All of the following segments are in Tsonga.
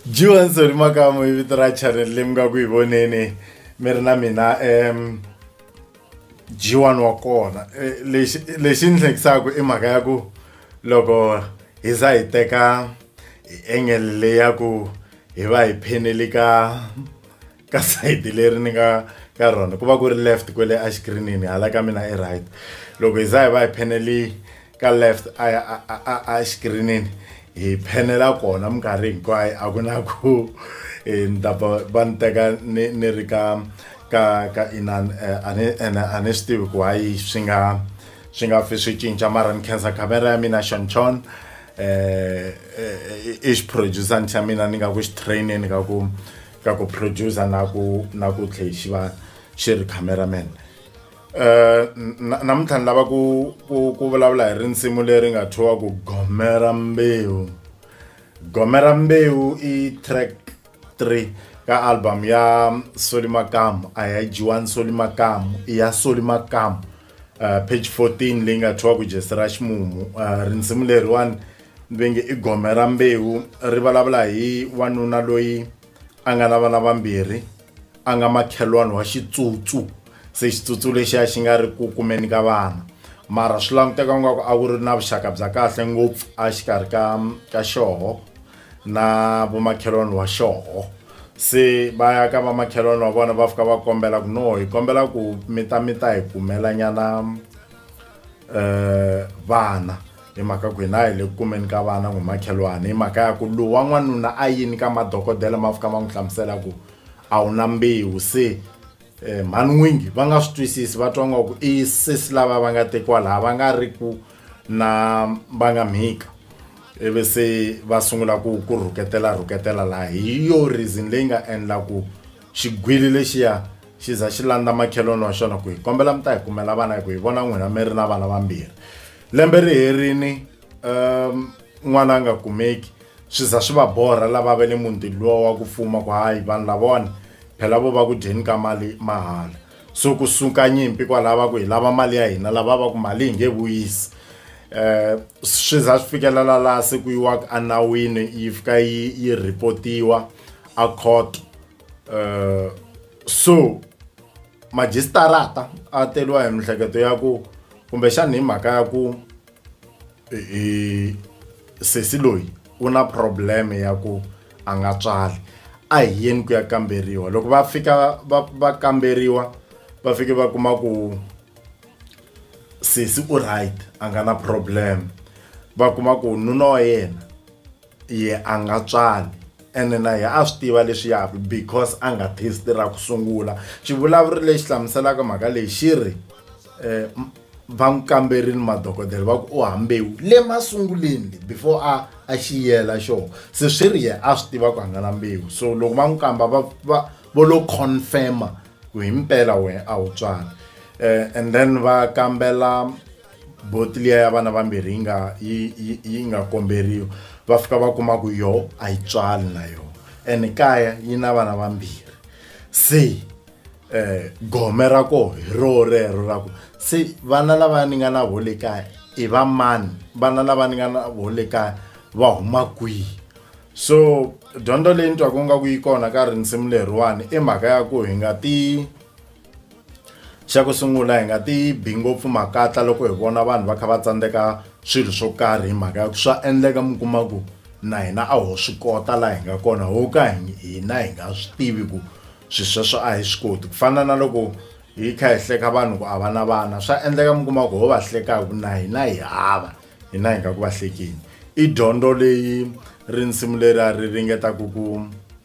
johanson makamo hi vito ra channel leyi mi nga ku yi voneni mi ri na mina um jiwani wa kona eh, lexi lexi ni hlekisaka i mhaka ya ku loko hi za hi teka hi engele leyi ya ku hi va hi phenele ka ka side leri ni nga ka rona ku va ku ri left kwele exikrinini hala ka mina i right loko hi za hi va hi pheneli ka left exikrinini hi phenela kona minkarhi hinkwayo a ku na ku e, ni ta va ni teka ni ni ri ka ka ka inan e, a ni ene a ni swi tivi ku hayi swi nga swi nga fi swi cinca mara ni khensa camera ya mina xonchon um e, i xiproducer ni xa mina ni nga ku xi traineni ka ku ka ku producer na ku na ku tlhe xi va xi ri cameraman eh, namuntlha ni lava ku ku ku vulavula hi rinsimu leri nga thyiwa ku gomera mbewu gomera mbewu i track 3 ka album ya soli makamu a ya jiwani soli makamu i ya soli makamu uh, page 14 leyi nga thyiwa ku jesi ra ximumu uh, rinsimu leriwani ni ve nge i gome ra mbewu ri vulavula hi wanuna loyi a nga na vana vambirhi a nga makhelwani wa xitsutsu se xitsutsu lexiya xi nga ri ku kumeni ka vana mara swi languteka ingaku a ku ri na vuxaka bya kahle ngopfu a xikarhi ka ka xoho na vomakhelwani wa xoho se va ya ka vamakhelwani wa vona va fika va kombela ku no hi kombela ku mi ta mi ta hi kumelanyana um eh, vana hi mhaka ku hina hi le ku kumeni ka vana ngumakhelwani hi mhaka ya ku lowu wa n'wanuna a yini ka madokodela ma fika ma n'wi hlamusela ku a wu na mbewu se Eh, mhani n'wingi va nga swi twisisi va twa ngaku i sesi lava va nga tekiwa laha va nga ri ku na va nga mhika ivi se va sungula ku ku rhuketela rhuketela laha hi yo reason leyi nga endla ku xigwili lexiya xi za xi landza makhelwani wa xona ku hi kombela mi ta hi kumela vana hi ku hi vona n'wina mi ri na vana vambirhi lembe ri herini um n'wana a nga kumeki swi za swi va borha lava va le mundini luwa wa ku fuma ku hayi vanhu lavona phela vo va ku dyeni ka mali mahala so ku suka nyimpi kwalava ku hi lava mali ya hina lava va ku mali hi nge vuyisi eh swi za swi fikelela la se ku yiwa a nawini yi fika yi yi reportiwa a court eh so magistrata a teriwa hi mihleketo ya ku kumbe xana hi mhaka ya ku hi sesi loyi u na problem ya ku a nga tswali a hi yeni ku ya kamberiwa loko va fika va va kamberiwa va fike va kuma ku sesi u right a nga na problem va kuma ku nuna wa yena ye a nga tswali ene na yena a swi tiva leswiyaku because a nga test ra ku sungula xivulavuri lexi hlamuselaka mhaka leyi xi ri um va n'wi kamberile madokodela va ku u hambewu le masunguleni before a a xiyela xona se swi ri yena a swi tiva ku a nga na mbewu so loko va n'wi kamba va va vo lo confirma ku hi mpela wena a wu tswali um and then va kambela boti liya ya vana vambirhi yi nga yi yi yi nga komberiwa va fika va kuma ku yo a yi tswali na yo ene kaya yi na vana vambirhi se um gome ra koho hi roho rero ra ku se vana lava ni nga na vo le kaya i va mani vana lava ni nga na vo le kaya va huma kwihi so dyondzo leyi ni twaku nga ku yi kona ka rinsimu leriwani i mhaka ya ku hi nga ti xa ku sungula hi nga ti bi ngopfu makatla loko hi vona vanhu va kha va tsandzeka swilo swo karhi hi mhaka ya ku swa endleka mi kuma ku na hina a ho swi kota laha hi nga kona ho ka hina hi nga swi tivi ku swilo sweswo a hi swi koti ku fana na loko hi kha hi hleka vanhu ku a va na vana swa endleka mi kuma ku ho va hleka hi ku na hina hi hava hina hi nga ku va hlekeni i dyondzo leyi rinsimu leri a ri ringeta ku ku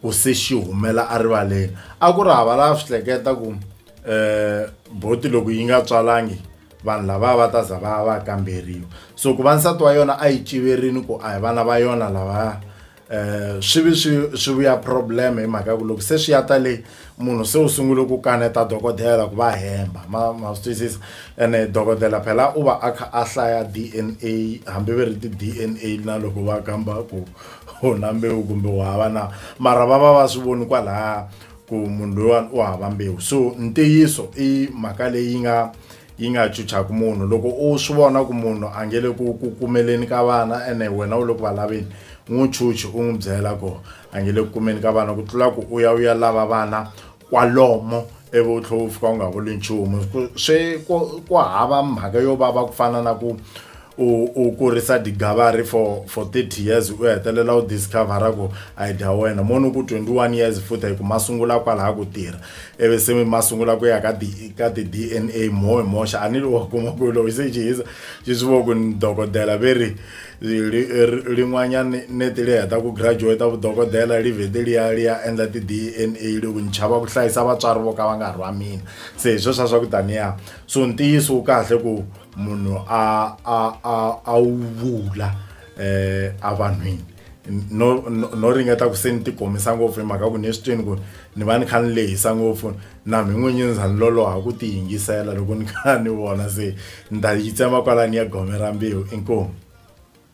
ku se xi humela erivaleni a ku ri hava lava swi hleketa ku um eh, boti loko yi nga tswalangi vanhu lava va ta za va va kamberiwa so ku va nsati wa yona a yi civerini ku a hi vana va yona lava um swi vi swi swi vuya problem hi mhaka ya ku loko se swi ya ta leyi munhu se u sungule ku kaneta dokodela ku va hemba ma ma swi twisisa ene dokodela phela u va a kha a hlaya d n a hambi va ri ti-d n a na loko va kamba ku u na mbewu kumbe u hava na mara va va va swi voni kwalaya ku munhu loyiwani u hava mbewu so ntiyiso i mhaka leyi nga yi nga chuchaka munhu loko u swi vona ku munhu a nge le ku ku kumeleni ka vana ene wena u le ku va laveni n'wi chuchi u n'wi byela ku a nge le ku kumeni ka vana ku tlula ku u ya u ya lava vana kwalomo ivi u tlhela u fika u nga vuli nchumu swi ku ku hava mhaka yo vava ku fana na ku u u kurisa digavari for for 30 years u hetelela u discovera ku a yi dya wena moni ku 21 years futhi hi ku ma sungula kwalaha ku tirha ivi se mi ma sungula ku ya ka ka ti-dna mo hi moxa a ni lo wa kuma ku loyi se jihisa xi swi vo ku ni dokodela ve ri lin'wanyani neti li heta ku graduate vudokodela li vhete li ya li ya endla ti-dna li ku ni chava ku hlayisa vatswari vo ka va nga rhwa mina se hi sweswa swa ku taniya so ntiyiso wu kahle ku munhu a a a a wu vula um evanhwini no no ringeta ku se ni ti komisa ngopfu hi mhaka ku ni swi twini ku ni va ni kha ni lehisa ngopfu. Nami n'winyi ndza ni loloha ku tiyingisela loko ni kha ni vona se ni ta yi tsema kwalani ya gome ra mbewu. Inkomu.